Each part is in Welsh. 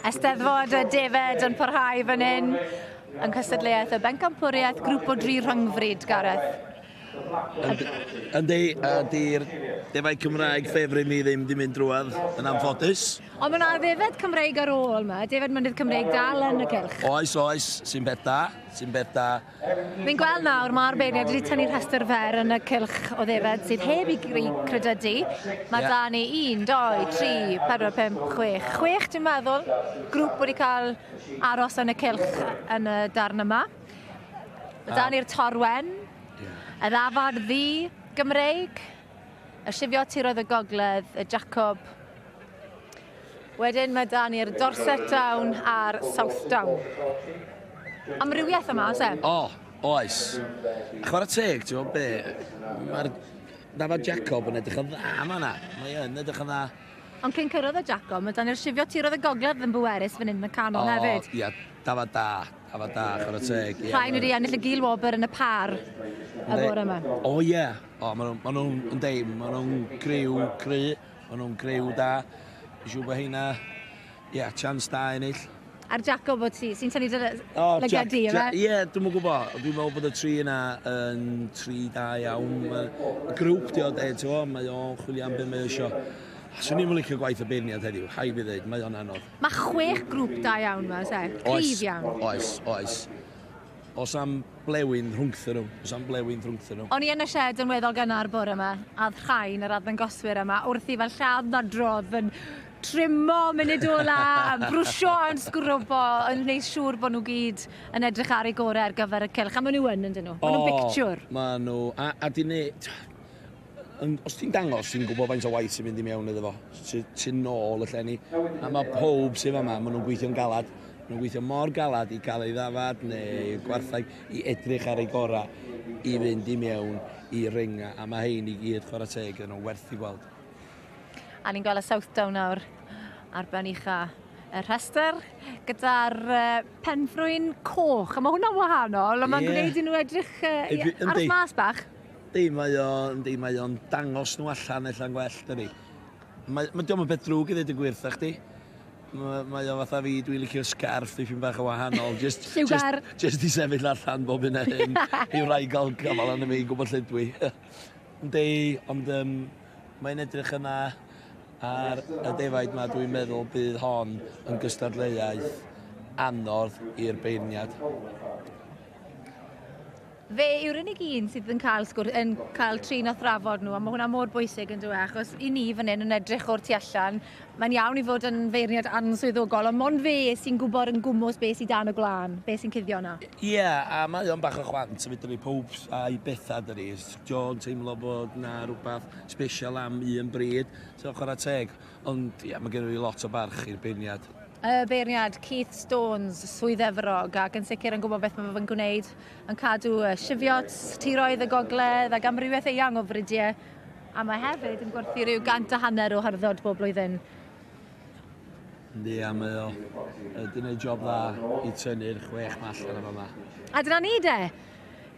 Eisteddfod y Defaid yn parhau fan hyn yn cystadleuaeth y bencampwriaeth grŵp o dri rhyngfryd, Gareth. Yndi, a di'r defaid Cymraeg ffefryn ni ddim di mynd drwad, yn anffodus. Ond mae yna ddefaid Cymreig ar ôl yma, defaid mynydd Cymreig dal yn y cylch. Oes, oes, sy'n beth da, sy'n beth da. Fi'n gweld nawr mae'r beirniaid wedi tynnu rhestr fer yn y cylch o ddefaid sydd heb i gri credydu. Mae da ni 1, 2, 3, 4, 5, 6. 6 dwi'n meddwl grŵp wedi cael aros yn y cylch yn y darn yma. Mae da ni'r torwen, y ddafad ddu, Gymreig. Y llifio tiroedd y gogledd, y Jacob. Wedyn mae da ni'r Dorset Down a'r South Down. Amrywiaeth yma, oes e? O, oes. A chwarae teg, ti'n meddwl be? Mae'r dafod Jacob yn edrych yn dda yma na. Mae yn edrych yn dda. Ond cyn cyrraedd y Jacob, mae dan ni'r llifio tiroedd y gogledd yn bwerus fan hyn yn y canol oh, hefyd. Ia, dafod da. Dafod da, chwarae teg. Rhain wedi ennill y Gil Wobr yn y par y bore yma. O ie, O, maen nhw'n ma nhw, yn deim, maen nhw'n griw cry, maen nhw'n griw da. Dwi'n siŵr bod heina, ia, yeah, chance da ennill. A'r Jacob bod ti, sy'n tynnu dy lygaid di, yma? Ie, dwi'n mwyn gwybod. Dwi'n meddwl bod y tri yna yn tri da iawn. Mae grŵp di o de, ti'n fawr, mae o'n chwilio am beth mae eisiau. A swn i'n licio gwaith y beirniad heddiw, rhaid fi ddweud, mae o'n anodd. Mae chwech grŵp da iawn yma, oes e? Cryf iawn. Oes, oes. Os am blewyn rhwngthyn nhw, os am blewyn rhwngthyn nhw. O'n i yn y sied yn weddol gynnar bore ma, a o'dd rhain, yr arddangoswyr yma, wrthi fel lladd nadrodd, yn trimo munud ola, yn brwsio, yn sgwrwbo, yn neud siŵr bo' nhw gyd yn edrych ar eu gore ar gyfer y cylch, a ma' nhw yn, yndyn nhw? Ma' nhw'n bictiwr. O, ma' nhw, a, a 'dyn ni, Ond os ti'n dangos, ti'n gwybod faint o waith sy'n mynd i mewn iddo fo. Ti'n ti nôl y llenni. A mae pob sydd yma, maen nhw'n gweithio'n galad. Maen nhw'n gweithio mor galad i gael ei ddafad neu gwarthau i edrych ar ei gorau i fynd i mewn i ringa. A mae hein i gyd chwarae teg yn o werth i gweld. A ni'n gweld y Southdown nawr ar ben ucha y rhestr gyda'r penfrwyn coch. A mae hwnna'n wahanol, a mae'n yeah. gwneud i nhw edrych uh, ar y mas bach. Yndi mae o, yndi mae o'n dangos nhw allan ella'n gwell dydi? Mae, mae diom yn beth drwg i ddweud y gwir wrtha chdi. Mae, mae o fatha fi, dwi'n licio'r scarf dipyn bach yn wahanol. Just, Lliwgar. Just, just i sefyll allan bob hyn a hyn i wraig gael gafal arno fi i gwybod lle dwi. yndi, ond um, mae'n edrych yn dda ar y defaid mae dwi'n meddwl bydd hon yn gystadleuaeth anodd i'r beirniad. Fe yw'r unig un sydd yn cael sgwrs, yn cael trin a thrafod nhw, a mae hwnna mor bwysig yn dweud, achos i ni fan hyn yn edrych o'r tu allan, mae'n iawn i fod yn feirniad answyddogol, ond mond fe sy'n gwybod yn gwmws beth sydd dan y gwlân, beth sy'n cuddio yna. Ie, a mae o'n bach o chwant, felly mae pawb a'i bethau dydy. Jo'n teimlo bod na rhywbeth special am un bryd, so chwarae teg. Ond ie, mae gen i lot o barch i'r beirniad. Y beirniad, Keith Stones, Swydd Efrog, ac yn sicr yn gwybod beth mae fe'n gwneud. yn cadw sifiots, tiroedd y gogledd ac amrywiaeth eang o fridiau, a mae hefyd yn gwerthu rhyw gant a hanner o harddod bob blwyddyn. Yndi, a mae o wedi gwneud job dda i tynnu'r chwech mall yna fama. A dyna ni de!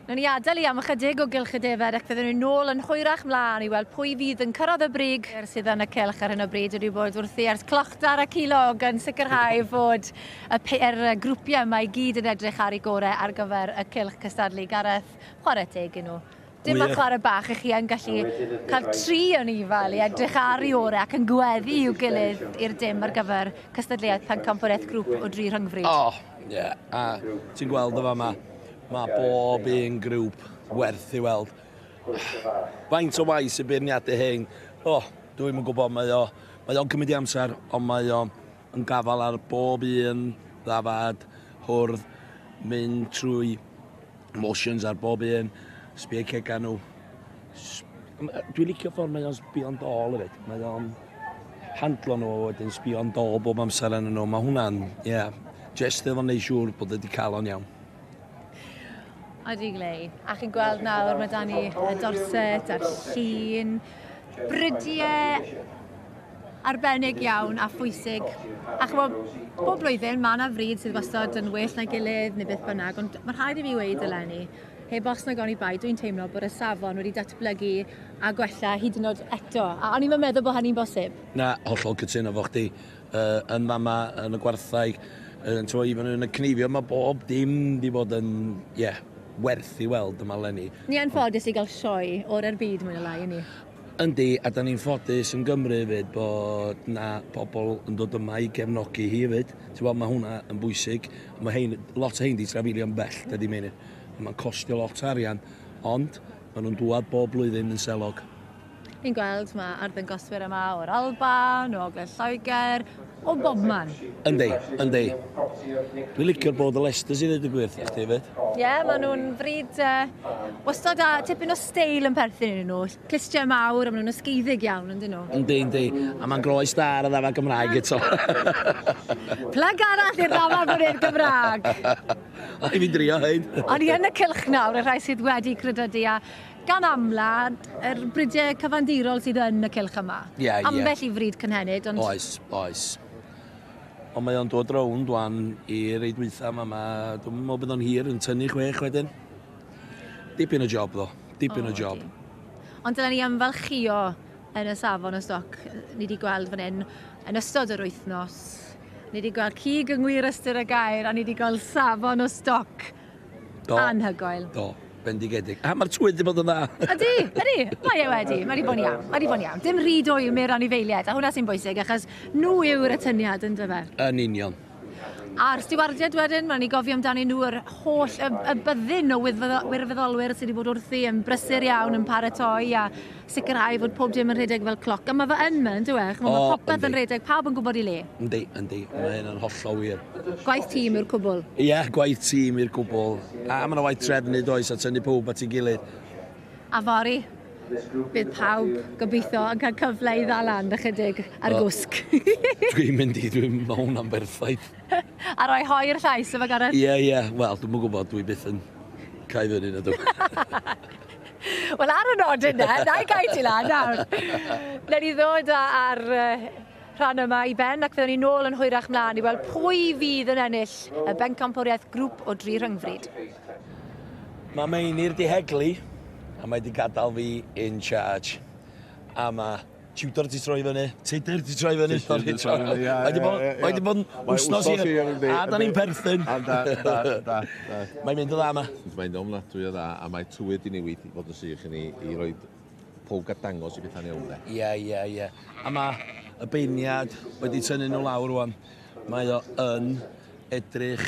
Nawn ni adael i am ychydig o gylch y defaid ac fyddwn ni'n ôl yn hwyrach mlaen i weld pwy fydd yn cyrraedd y brig sydd yn y cylch ar hyn o bryd. Wedi bod wrthi ers clochtar a cilog yn sicrhau fod Y peer grwpiau yma i gyd yn edrych ar ei gorau ar gyfer y cylch cystadlu. Gareth, chwarae teg i nhw. Dim fel chwarae bach, i chi yn gallu cael tri o ni fel i edrych ar ei orau ac yn gweddi i'w gilydd i'r dim ar gyfer cystadleuaeth pencampwriaeth grŵp o dri rhyngfryd. O, ie, yeah. a ti'n gweld y fama, mae bob un grŵp werth i weld. Faint o waith sy'n beirniadu hyn? O, dwi'n yn gwybod, mae o'n cymryd i amser, ond mae o'n yn gafael ar bob un ddafad, hwrdd, mynd trwy motions ar bob un, sbio cegau nhw. Dwi'n licio ffordd mae o'n sbio'n dol hefyd. Mae o'n handlo nhw a wedyn sbio'n dol bob amser yn nhw. Mae hwnna'n, ie, yeah, jyst efo neud siŵr bod wedi cael o'n iawn. Ydy glei. A chi'n gweld nawr mae dan ni y dorset a'r llun, brydiau arbennig iawn a phwysig. A chymod, bob blwyddyn mae yna fryd sydd wastad yn well na gilydd neu beth bynnag, ond mae rhaid i fi weud eleni, heb os na gawn i bai, dwi'n teimlo bod y safon wedi datblygu a gwella hyd yn oed eto. A o'n i'n yn meddwl bod hynny'n bosib. Na, hollol cytuno fo chdi. Uh, yn fama, yn y gwartheg, yn tro i fyny yn y cneifio, mae bob dim di bod yn, ie, yeah, werth i weld yma lenni. Ni anffodus i gael sioe o'r ar byd mwy na lai, ni? Yndi, a dan ni'n ffodus yn Gymru hefyd bod 'na pobl yn dod yma i gefnogi hi hefyd. Ti'n gwbod, ma' hwnna yn bwysig. A ma' rhein, lot o rhein 'di trafeilio'n bell, dydy Meinir. A ma'n costio lot o arian, ond ma' nhw'n dŵad bob blwyddyn yn selog. Ni'n gweld ma' arddangoswyr yma o'r Alban, o Ogledd Lloegr, O bobman. Yndi, yndi. Dwi'n licio'r bod y Leicesters i ddweud y gwir, a chdi fyd? Ie, yeah, maen nhw'n frid uh, wastad a tipyn o steil yn perthyn iddyn nhw. Clistiau mawr, a maen nhw'n ysgeiddig iawn, yndyn nhw? Yndi, yndi. A mae'n groes da ar y ddafa Gymraeg eto. Plyg arall i'r ddafa bod i'r Gymraeg. O'n i'n drio hyn. O'n i yn y cylch nawr, y rhai sydd wedi credodi a gan amla, yr bridiau cyfandirol sydd yn y cylch yma. Ie, ie. Ambell i frid cynhenid, ond... Oes, oes. Ond mae o'n dod rownd wan i rei dwytha yma, ma, dwi'n meddwl bod o'n hir yn tynnu chwech wedyn. Dipyn o job ddo, dipyn o, o job. Ond dyna ni ymfalchio yn y safon o stoc ni wedi gweld fan hyn yn ystod yr wythnos. Ni wedi gweld cig yng ngwir ystyr y gair a ni wedi gweld safon o stoc Do. Anhygoel. Do, bendigedig. A mae'r twydd wedi bod yn dda. Ydy, ydy. Mae e wedi. Mae wedi bod yn iawn. Mae wedi bod yn iawn. Dim rhy dwy mewn anifeiliaid, a hwnna sy'n bwysig, achos nhw yw'r atyniad yn dyfa. Yn union. A'r stiwardiad wedyn, mae'n ni gofio amdano nhw yr holl y, y byddin o wirfoddolwyr sydd wedi bod wrthi yn brysur iawn, yn paratoi, a sicrhau fod pob dim yn rhedeg fel cloc, a mae fe yn ma, yndyw e? Chimod, mae popeth yn rhedeg, pawb yn gwybod i le. Yndi, yndi, mae hyn yn hollol wir. Gwaith tîm yw'r cwbl. Ie, yeah, gwaith tîm i'r cwbl. A mae yna waith trefnu, does, a tynnu pawb at ei gilydd. A fory, bydd pawb, gobeithio, yn cael cyfle i ddal lan ychydig ar y gwsg. Dwi'n mynd i, dwi'n mynd mewn am berffaith. a rhoi hoi i'r llais, efo Gareth? Ie, ie, wel, dwi'n gwybod, dwi byth yn cael fyny na dwi. Wel, ar y nod yna, na i gael ti lan nawr. Newn ni ddod ar rhan yma i ben ac fyddwn ni nôl yn hwyrach mlaen i weld pwy fydd yn ennill y bencampwriaeth grŵp o dri rhyngfryd. Mae Meinir 'di heglu a mae 'di gadael fi in charge. A mae Tudor di troi fyny. Tudor di troi fyny. Tudor di troi fyny, ia. Mae di bod, mae di bod wsnos i hir. A da ni'n perthyn. A da, da, da. Mae'n mynd o dda yma. Mae'n mynd o'n ofnadwy o dda, a mae tywydd di newid i fod yn sych i ni i roi pwg a dangos i bethau'n iawn de. Ie, ie, ie. A mae y beiniad wedi tynnu nhw lawr rwan. Mae o yn edrych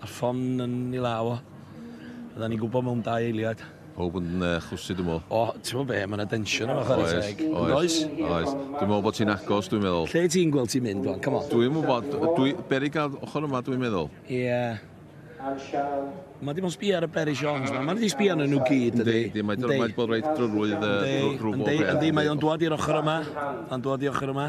A'r ffon yn ei law o. Fydda ni'n gwybod mewn dau eiliad. Pawb yn uh, chwysu, dwi'n meddwl. O, ti'n meddwl be, mae yna densiwn yma chwarae Oes, teg. Yn oes, does? oes. Dwi'n meddwl bod ti'n agos, dwi'n meddwl. Lle ti'n gweld ti'n mynd, Wan? Come on. Dwi'n gwybod, dwi, berig ar ochr yma, dwi'n meddwl. Ie. Yeah. Mae dim ond sbio ar y Barry Sean's yma. Mae wedi sbio arnyn nhw gyd, ydy. Yndi, mae wedi bod reit drwydd uh, drwy bob peth. Yndi, mae o'n dod i'r ochr yma. Mae'n dod i'r ochr yma.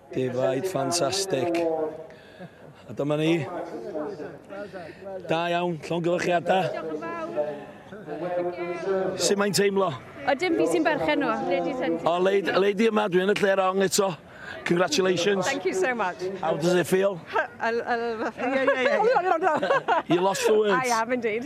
Defaid ffantastig. A dyma ni. Da iawn, llongyfarchiadau. Sut mae'n teimlo? O, dim fi sy'n berchen nhw. Lady Sentinel. O, lady, lady yma, dwi yn y lle rong eto. Congratulations. Thank you so much. How does it feel? You lost the words. I am indeed.